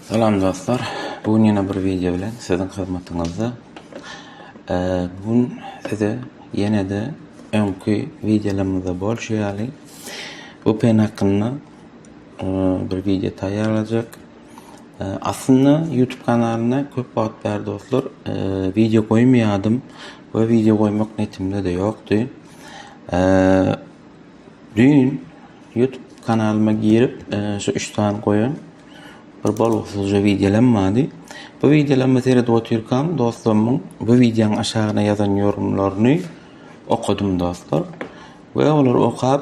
Salam dostlar. Bu gün ýene bir wideo bilen siziň hyzmatyňyzda. Bu gün size ýene-de öňki wideolarymyzda bolşy ýaly bu pen hakynda bir wideo taýýarlajak. Aslynda YouTube kanalyna köp wagt bäri dostlar wideo goýmaýardym we wideo goýmak netimde-de ýokdy. Düýn YouTube kanalyma girip şu üç sany goýan bir bolgusyzja wideolam bardy. Bu wideolamy seredip otyrkam dostlarymyň bu wideoň aşagyna ýazan ýorumlaryny okadym dostlar. We olary okap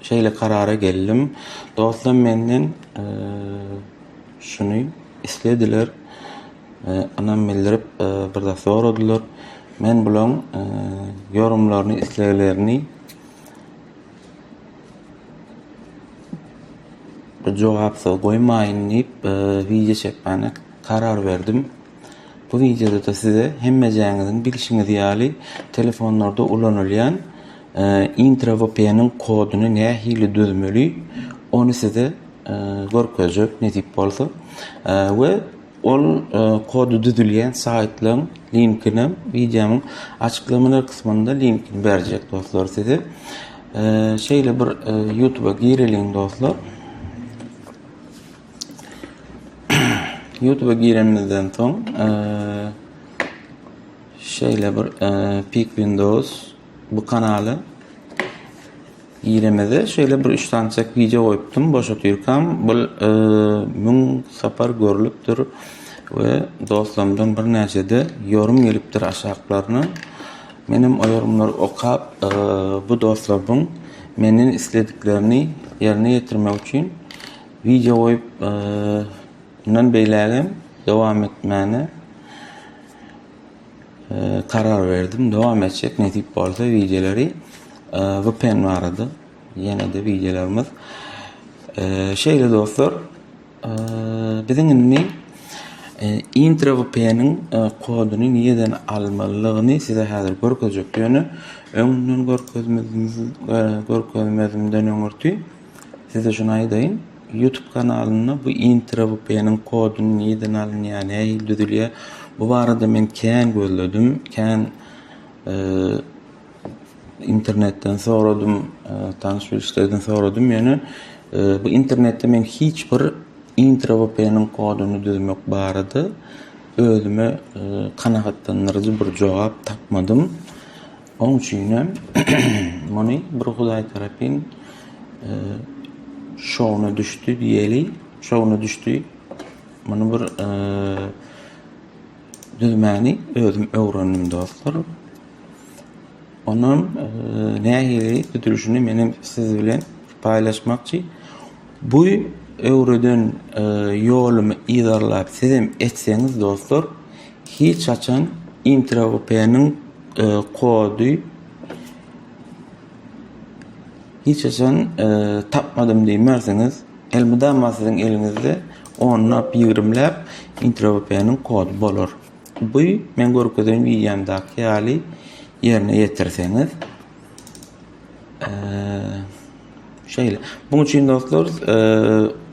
şeýle karara geldim. Dostlar menden şuny islediler. Ynam bildirip, bir zat soradylar. Men bulaň ýorumlaryny, isleglerini jogapsyz goýmaýyn diýip, wideo çekmäne karar berdim. Bu wideoda-da size hemmejäňiziň bilşiňiz ýaly, telefonlarda ulanylýan IntraVPN-iň koduny nähili düzmeli, ony size görkezjek nesip bolsa we, Ol kody düzülýän saýtlaň linkini wideonyň açyklamalar gysmynda linkini berjek dostlar size. Şeýle bir YouTube-a gireliň dostlar. YouTube-a girenimizden soň şeýle bir Peak Windows Bu kanala giremede şeýle bir üç sançak wideo goýupdym boş otyrkam. Bu müň sapar görlüpdir we dostlarymdan birnäçede ýorym gelipdir aşaklaryna. Menem o ýorumlary okap bu dostlarbyň menden islediklerini ýerine ýetirmek üçin wideo goýup mundan beýlägem dowam etmäne. karar berdim. Dowam etjek nesip bolsa wideolary VPN barada. Ýene de wideolarymyz. Şeýle dostlar, biziň indi intro VPN-iň koduny nireden almalydygyny size häzir görkezjek. Ýöne öňden görkezmezden öňürti Size şuny aýdaýyn, YouTube kanalynda bu introwpeniň koduny nirden alynýar, nähili düzülýär, bu barada men kän gözledim, kän internetden soradym, tanyş-bilişlerden soradym, ýöne bu internetde men hiç bir introwpeniň koduny düzmek barada özüme kanagatlandyryjy bir jogap tapmadym. Oň üçinem muny bir Hudaý tarapyn şowuna düşdi diýeli, şowuna düşdi. Muny bir düzmäni özüm öwrendim dostlar. Onam nähili düzülişini menem siz bilen paýlaşmakçy. Bu öwreden ýolumy yzarlap sizem etseňiz dostlar, Hiç haçan intraup-nyň kody hiç haçan tapmadym diýmersiňiz. Elmydama siziň eliňizde onlap, ýigrimläp intraup-nyň kody bolar. Bu men görkezen wideomdaky ýaly ýerine ýetirseňiz. Şeýle. Muň üçin dostlar,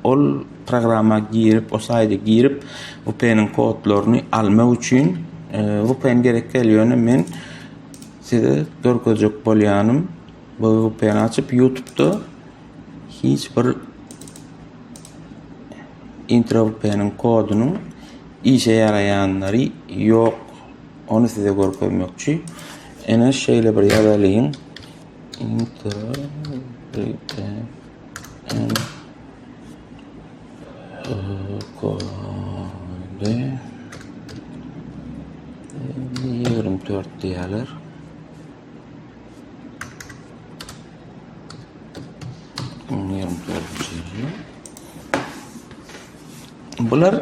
ol programma girip, o saýda girip, VPN-iň kodlaryny almak üçin VPN gerek däl, ýöne men size görkezjek bolýanym, bu VPN-i açyp YouTube-da hiç bir intro VPN-iň kodunyň işe ýaraýanlary ýok. Ony size görkezmekçi. Ene şeýle bir ýazalyň. Ýigrimi dört diýerler. Ýigrimi dört diýerler. Bular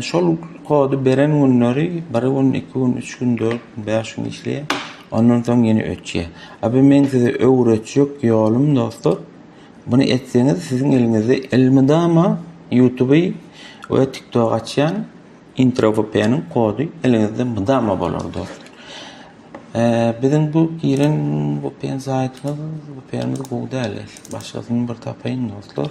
şol kody beren günleri bir gün, iki gün, üç gün, dört gün, bäş gün işleýär. Ondan soň ýene öçýär. A bu meň size öwretjek ýolum dostlar. Buny etseňiz siziň eliňizde elmydama YouTube we TikTok açýan intro vpn-iň kody eliňizde mydama bolar dostlar. Biziň bu giren vpn saýtymyz vpn-imiz gowy däl. Başgasyny bir tapaýyn dostlar.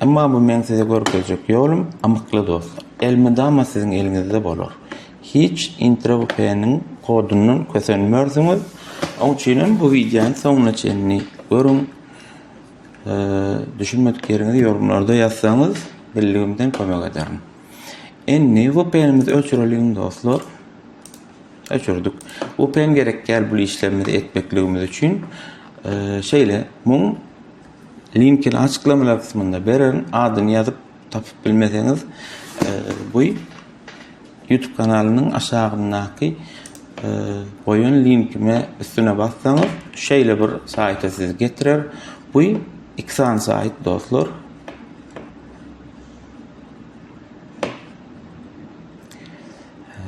Emma bu meň size görkezjek ýolum, amykly dost. Elmydama siziň eliňizde bolar. Hiç IntroVPN-iň kodundan kösenmersiňiz. Oň üçinem bu wideony soňuna çenli görüň. Düşünmedik ýeriňizi ýorumlarda ýazsaňyz, bildigimden kömek ederin. Indi VPN-imizi öçüreliň dostlar. Öçürdik. VPN gerek däl bu işlerimizi etmekligimiz üçin. Şeýle, muň Linkini açyklamalar kysmynda bererin. Adyny ýazyp tapyp bilmeseňiz, bu YouTube kanalynyň aşagyndaky goýan linkime üstüne bassaňyz, şeýle bir saýta sizi getirer. Bu iki sany saýt dostlar.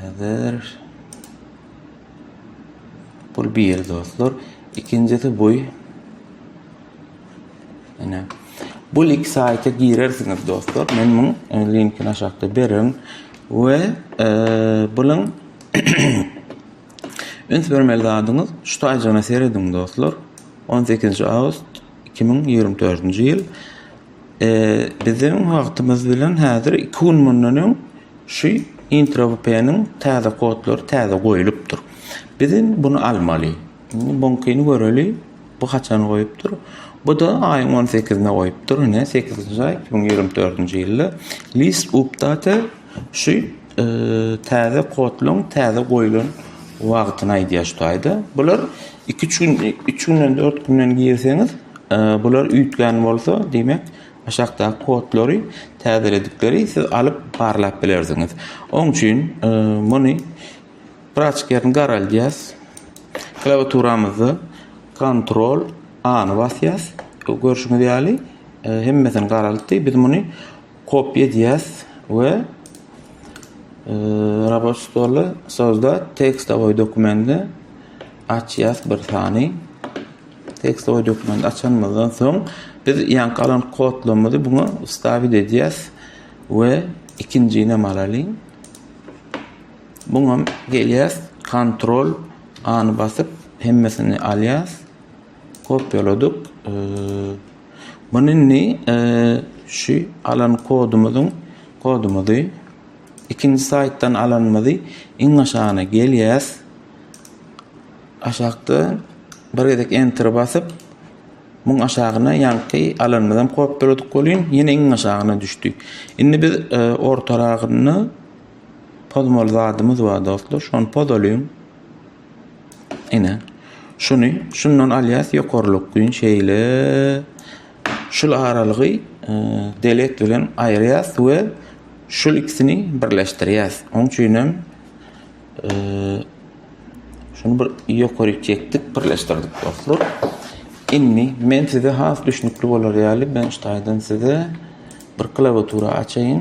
Häzir Bul bir dostlar. Ikinjisi buý. Ene. Bul iki sayta girersiňiz dostlar. Men muň e, linkini aşakda berin. Ve e, bulun üns vermeli zadyňız şu taycana seredin dostlar. 18 avgust 2024 yıl. Biziň wagtymyz bilen häzir iki gün mundan öň şu IntroVPN-iň täze kodlary täze goýlupdyr. Biz indi bunu almaly. Indi buňkyny göreli. Bu haçan goýupdyr? Bu-da aýyň 18-ine goýupdyr. Ine 8-nji aý 2024-nji ýylda list update şu Täze kodlaryň täze goýlan wagtyny aýdýar şu taýda. Bular 2-3 gün, 3 günden 4 günden girseňiz, bular üýtgän bolsa, diýmek, aşakdaky kodlary täzeledikleri siz alyp barlap bilersiňiz. Oň üçin muny braçkýaryny garaldýas. Klawiaturamyzda kontrol A-ny basýas. Görşüňiz ýaly, hemmesini garaltdy. Biz muny Kopýa edýäs we Robot stoly sozda tekstowy dokumenti açýas bir sany. Tekstowy dokumenti açanymyzdan soň biz ýan galan kodlarymyzy buna wstawit edýäs we ikinjini hem alalyň. Buňam gelýäs kontrol any basyp hemmesini alýas. Kopýaladyk. Muny indi şu alan kodumyzyň kodumyzy ikinji saýtdan alanymyzy iň aşagyna gelýäs. Aşakda bir gezek enter basyp muň aşagyna ýaňky alanymyzy hem kopýaladyk welin ýene iň aşagyna düşdi. Indi biz e, ortaragynda pozmaly zadymyz bar dostlar. Şony pozalyň. Ine. Şuny şundan alýas ýokarlyk gün şeýle şul aralygy e, delek bilen aýyrýas we şul ikisini birleşdirýäs. Oň üçin hem e, şunu bir ýokary çekdik, birleşdirdik dostlar. Indi men size has düşnükli bolar ýaly ben şu taýdan size bir klawiatura açaýyn.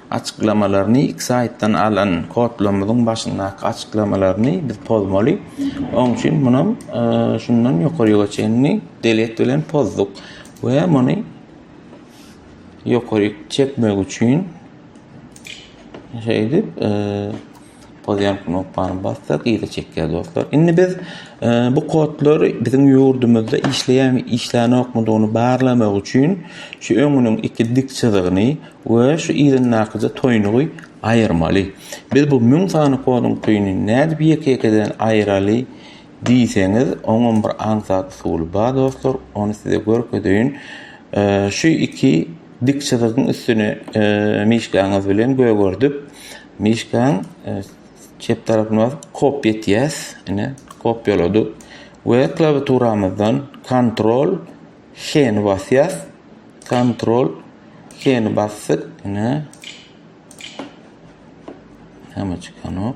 Açyklamalaryny iki saýtdan alan kodlarymyzyň başyndaky açyklamalaryny biz pozmaly. Oň üçin munam şundan ýokaryga çenli delete bilen pozduk we muny ýokaryk çekmek üçin şeýdip Pozýan knopkany bassak yza çekýär dostlar. Indi biz e, bu kodlary biziň ýurdumyzda işleýärmi, işlänokmydygyny barlamak üçin şu öňüniň iki dik çyzygyny we şu yzyndakyja toýnugy aýyrmaly. Biz bu 1000 sany koduň toýuny nädip ýeke-ýekeden aýyraly diýseňiz, oňam bir aňsat usuly bar dostlar, ony size görkezeýin. E, şu iki dik çyzygyň üstüne e, mişgaňyz bilen gögerdip, Myşkaň çep tarapyna basyp kopýa etýäs. Ine, kopýaladyk we klawiaturamyzdan Ctrl H-ni basýas. Ctrl H-ni basdyk. Ine. Hemme çykanok.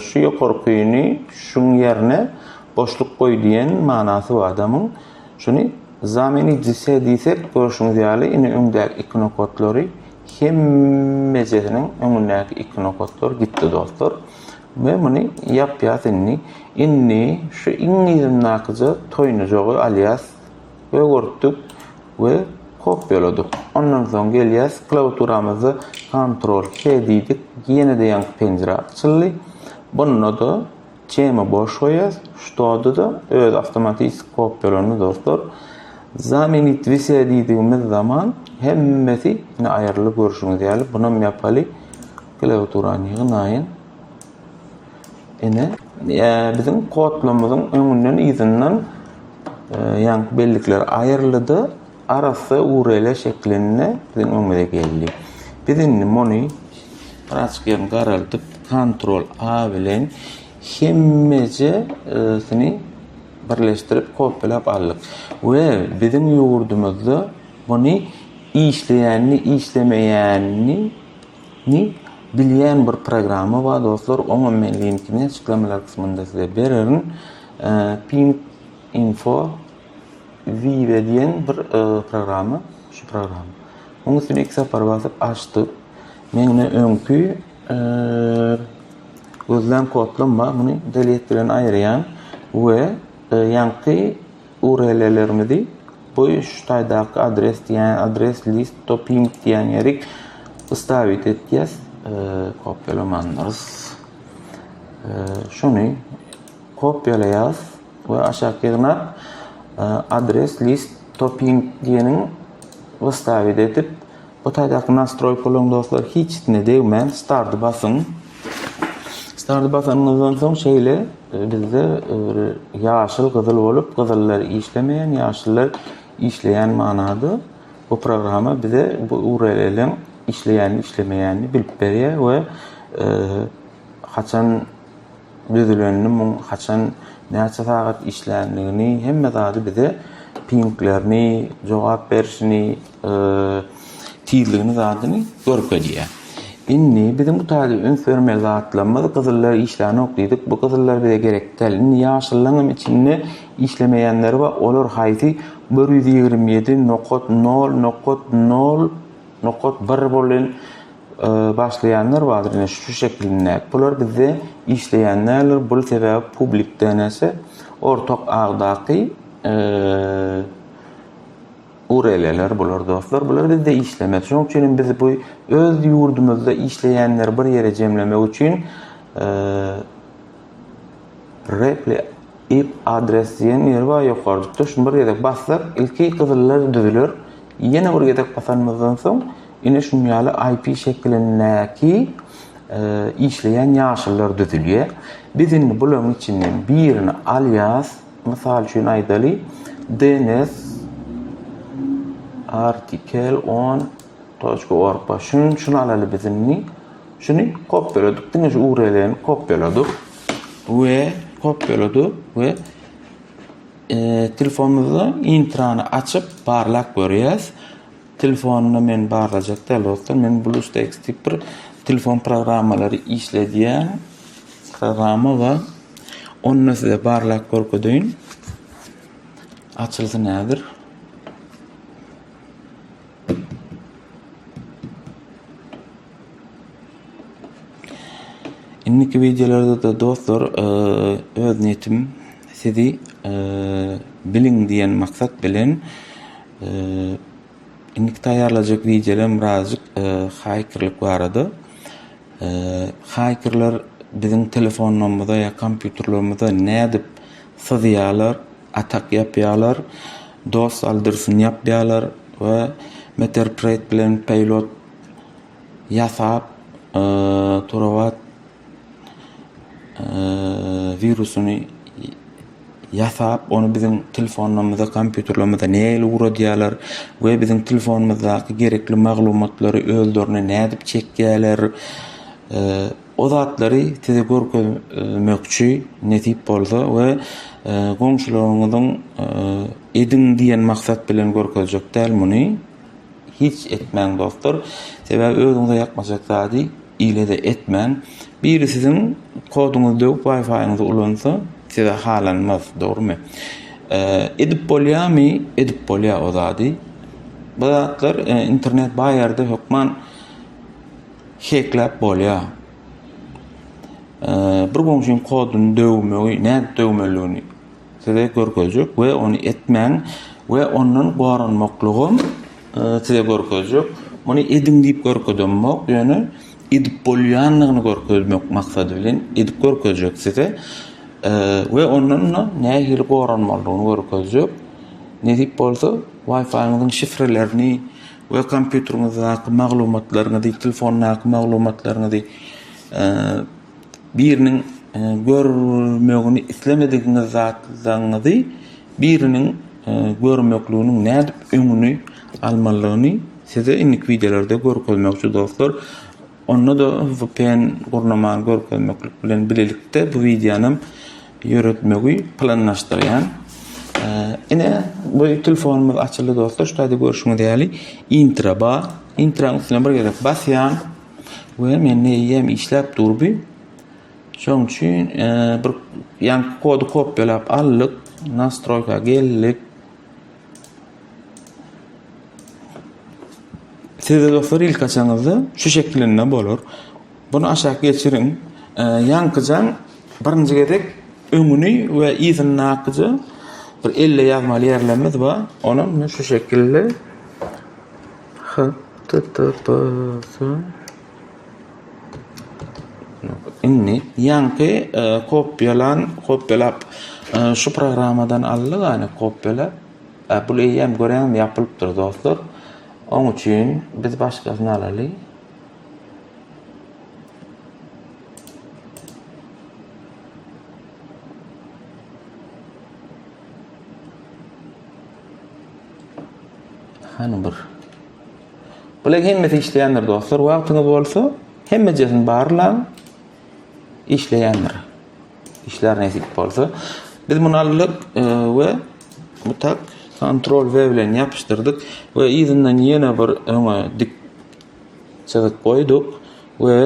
Şu ýokarkyny şuň ýerine boşluk goý diýen manasy bar adamyň. Şuny zamenit zise diýsek, görşüňiz ýaly, ine öňdäki iki nokatlary hemmejisiniň öňündäki iki nokatlar gitdi dostlar. We muny ýapýas indi. Indi şu iň yzyndakyja toýnajagy alýas. öwürtdik we kopýaladyk. Ondan soň gelýäs, klawiaturamyzda Ctrl K diýdik, ýene-de ýaňky penjire açyldy. Bunda-da temy boş goýýas, şuda-da öz awtomatik kopýalandy dostlar. Zamenit wise diýdigimiz zaman hemmesi ine aýryldy görşüňiz ýaly, bunam ýapaly. Klawiaturany ýygnaýyn. Ene, biziň kodlamymyzyň öňünden yzyndan ýaňky bellikler aýryldy-da, arassa URL-e şeklinde biziň öňümize geldi. Biz indi muny birazjyk ýerini garaldyp, Ctrl A bilen hemmejesini birleşdirip kopýalap aldyk. We biziň ýurdumyzda muny işleýänini, işlemeýänini Ni bilýän bir programma bar dostlar oňam men linkini açyklamalar kysmynda size bererin ping info vive diýen bir e, programma şu programma oň üstüne iki sapar basyp açdy men ne öňki e, gözlän kodlam bar muny delete bilen aýyrýan we e, ýaňky URL-lerimizi bu şu taýdaky adres diýen adres list to ping diýen ýeri wstawit etýäs. Kopýalamandyrs. Şuny kopýalaýas we aşak ýygnap adres list to ping diýeniň wstawit edip Bu taýdaky nastroý puluň dostlar hiçisine degmän starty basyň. Starty basanyňyzdan soň şeýle e, bizde e, ýaşyl gyzyl bolup gyzyllar işlemeýän ýaşyllar işleýän manada bu programma bize bu URL-iň işleýänini işlemeýänini bilip berýär we e, haçan düzülenini muň haçan näçe sagat işländigini hemme zady bize pinglerini jogap berişini tizligini zadyny görkezýär. Indi biziň bu taýda üns bermeli zatlarymyz gyzyllar işlänok diýdik bu gyzyllar bize gerek däl indi ýaşyllaňam içinde işlemeýänleri bar olar haýsy bir ýüz ýigrimi ýedi nokat nol nokat nol nokat bir bolan başlaýanlar bardyr ine şu şekilinde. Bular bizde işleýän däldir. Bul sebäbi publik DNS-e ortak agdaky URL-ler bular dostlar. Bular bizde işlemez. Şonuň üçin hem biz bu öz ýurdumyzda işleýänleri bir ýere jemlemek üçin Reply Ip adres diýen ýeri bar ýokarjykda şuny bir gezek bassak ilki gyzyllar düzüler ýene bir gezek basanymyzdan soň ine şunýaly IP şekilindäki işleýän ýaşyllar düzülýär. Biz indi bularyň içinden birini alýas mysal üçin aýdaly DNS artikel on toçka org bar şuny şuny alaly biz indi. Şuny kopýaladyk, diňe şu URL-ni kopýaladyk we kopýaladyk we telefonymyzda intrany açyp barlap görýäs. Telefonda men barlajak däl dostlar. Men BlueStacks diýip bir telefon programmalary işledýän programma bar. Onda size barlap görkedeýin. Açylsyn häzir. Indiki wideolarda-da dostlar öz niýetim sizi biliň diýen maksat bilen indiki taýýarlajak wideolaryň birazajyk haýkerlik barada. Haýkerler biziň telefonlarymyza ýa kompýuterlerimize nädip syzýarlar, atak ýapýarlar, dos aldyrsyn ýapýarlar we Meterpreet bilen Peýlot ýasap, Turawat wirusyny ýasap, ony biziň telefonlarymyza, kompýuterlerimize nähili uradýarlar we biziň telefonymyzdaky gerekli maglumatlary özlerine nädip çekýärler, o zatlary size görkezmekçi nesip bolsa we goňşularyňyzyň ediň diýen maksat bilen görkezjek däl muny. Hiç etmäň dostlar, sebäbi özüňize ýakmajak zady ile-de etmäň. Biri siziň koduňyzy döwüp Wi-Fi-ňyzy ulansa, size halanmaz, dogrumy? Edip bolýamy? Edip bolýar o zady. Bu zatlar internet baý ýerde hökman hekläp bolýar. Bir goňşyň koduny döwmegi, nädip döwmelidigini Size görkezjek we ony etmäň we ondan goranmaklygym size görkezjek. Muny ediň diýip görkezemok, ýöne edip bolýandygyny görkezmek maksady bilen edip görkezjek size we ondan nähili goranmalydygyny görkezjek. Nesip bolsa, Wi-Fi-ňyzyň şifrelerini we kompýuteriňizdäki maglumatlaryňyzy, telefondaky maglumatlaryňyzy Biriniň görmegini islemedigiňiz zatlaryňyzy biriniň görmekliginiň nädip öňüni almalygyny size indiki wideolarda görkezmekçi dostlar. Onda-da vpn gurnamany görkezmeklik bilen bilelikde bu wideonam ýöretmegi planlaşdyrýan. Ine bu telefonymyz açyldy dostlar şu taýda görşüňiz ýaly intro bar. Intranyň üstüne bir gezek basýan. we men eýýäm işläp durdy. Şoň üçin bir ýan kody kopýalap aldyk, nastroýka geldik. Sizde dostlar ilk açaňyzda şu şekilinde bolar. Bunu aşak geçiriň. Ýankyjan birinji gezek öňüni we yzyny akyja bir elle ýazmaly ýerlerimiz bar. Onam şu şekilde Indi ýaňky kopýalan kopýalap şu programmadan aldy gany kopýala bul eýýäm görýäňmi ýapylypdyr dostlar oň üçin biz başgasyny alaly. Hany bir. Bular hemmesi işleýändir dostlar. Wagtyňyz bolsa hemmejesini barlaň. Işleýändir. Işler nesip bolsa. Biz muny aldyk e, we bu tak kontrol V bilen ýapyşdyrdyk we yzyndan ýene bir öňe dik çyzyk goýduk we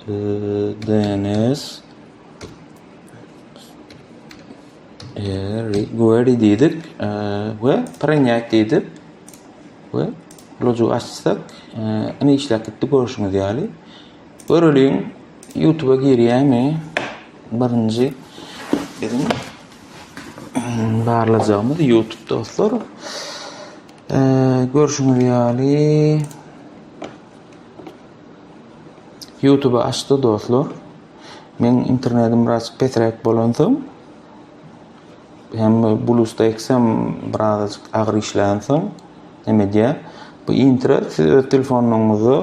e, DNS Re query diýdik we prinýat diýdik we loju açsak ine işläp gitdi görüşüňiz ýaly göreliň youtube girýämi birinji biziň barlajagymyz youtube dostlar görüşüňiz ýaly youtube açdy dostlar Meň internetim biraz pesräk bolansoň hem BlueStacks-em birazajyk agyr işlänsoň näme edýär? Bu intra siz öz telefonyňyza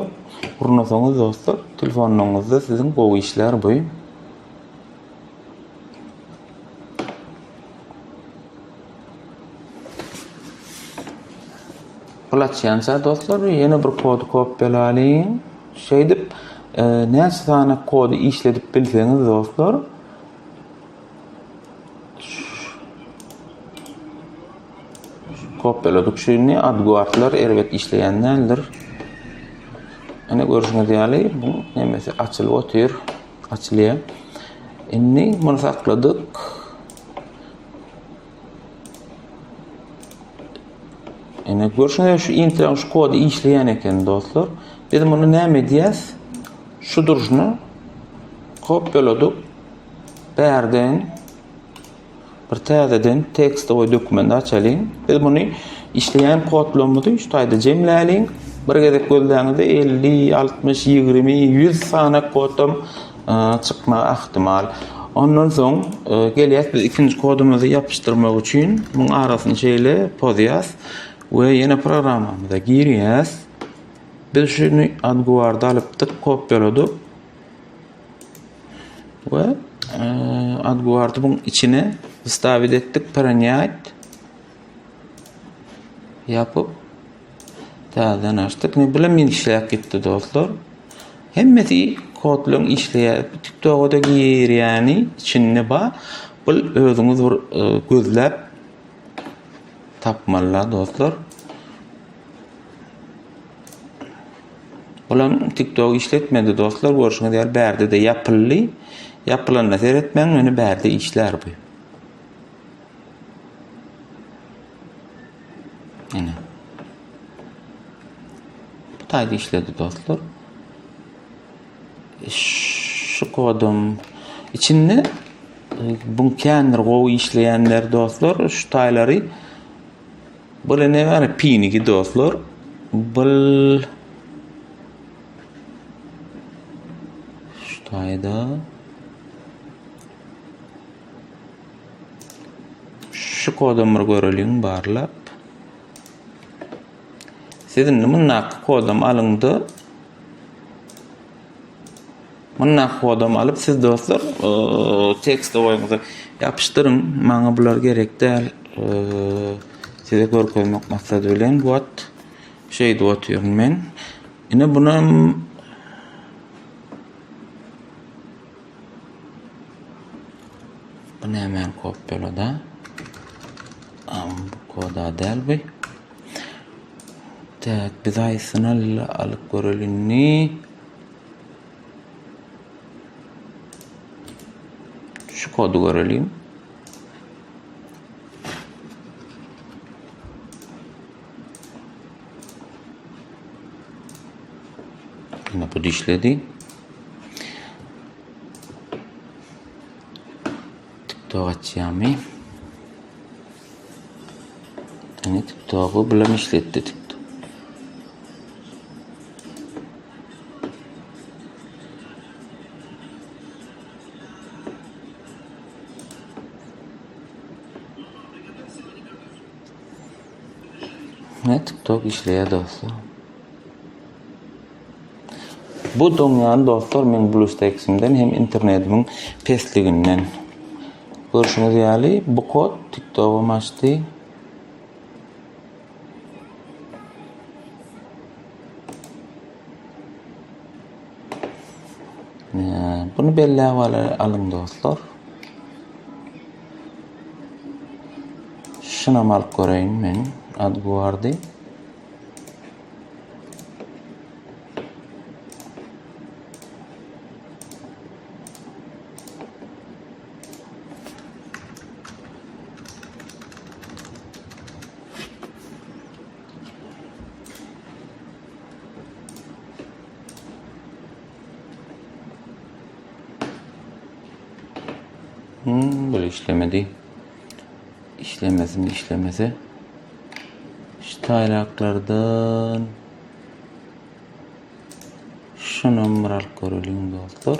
urnasaňyz dostlar, telefonyňyzda siziň gowy işlär bu. Bulaçýança dostlar, ýene bir kody kopýalalyň. Şeýdip, näçe sany kody işledip bilseňiz dostlar, kopýaladyk şu indi adguardlar erbet işleýän däldir. Ene görüşüňiz ýaly bu nemesi açylyp otyr, açylýar. Indi muny sakladyk. Ene görşüňiz şu intraň şu kody işleýän eken dostlar. Biz muny näme edýäs? Şu durşuna kopýaladyk. Bärden bir täzeden tekstowy dokument açalyň. Biz muny işleýän kodlarymyzy şu taýda jemläliň. Bir gezek gözläňizde 50, 60, 20, 100 sany kodam çykmagy ahtimal. Ondan soň gelýäs biz ikinji kodumyzy ýapyşdyrmak üçin muň arasyny şeýle pozýas we ýene programmamyza girýäs. Biz şuny adguarda alypdyk, kopýaladyk. we adguardy buň içine wstavit etdik, prenýat. Ýapyp, täzeden açdyk. Indi bilim işläp gitdi dostlar. Hemmesi kodlaryň işleýär. Bu TikTok-da girýäni içinde ba. Bu özüňiz bir e, gözläp tapmalyla dostlar. Olam TikTok işletmedi dostlar. Görşüňiz ýaly bärde de ýapyldy. Ýapylanda seretmäň, ýöne bärde işlär bu. Ene. Bu taýda işledi dostlar. E, şu kodum içinde e, bu kendir gowy işleýänler dostlar şu taýlary bu ne bar pinigi dostlar bu şu taýda Şu kodam bir göreliň barlap. Siz indi mundaky kodam alyňda mundaky kodam alyp siz dostlar tekst oýuňyza ýapyşdyryň. Maňa bular gerek däl. Size görkezmek maksady bilen bu at şeýdip otyryn men. Ine bunu Bu nämäni kopýalada? Bu koda däl bu. Tak, biz aýsyny alyp göreli indi. Şu kody göreliň. Ýene bu dişledi. TikTok açýamy? Ene TikToku bilen işletdi TikTok. Bu dünýäni dostlar meň BlueStacks-imden hem internetimiň pesliginden görşüňiz ýaly bu kod TikTok-ym açdy. Buny belläp alyň dostlar. Şunam alyp göreýin men Adguardy. Hmm, böyle işlemedi. İşlemesin, işlemese. Şu taylaklardan şu numara alıp görelim dostlar.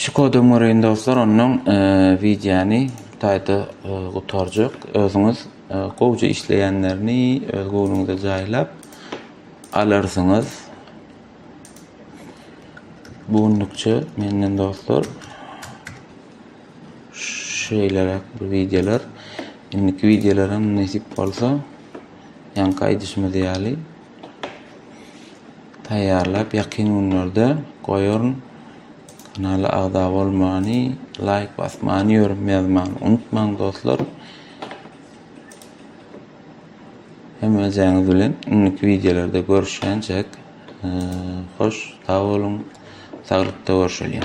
Şu kodu öňürin dostlar, ondan e, wideony taýda e, gutarjak. Özüňiz e, gowja işleýänlerini öz göwnüňize jaýlap alarsyňyz. Bu günlükçe menden dostlar şeýleräk bir wideolar. Indiki wideolaram nesip bolsa ýaňky aýdyşymyz ýaly taýýarlap ýakyn günlerde goýaryn. Kanala agza bolmany, laýk basmany, ýörüm ýazmany unutmaň dostlar. Hemmäňiz bilen indiki wideolarda görüşýänçäk hoş sag boluň saglykda görşeliň.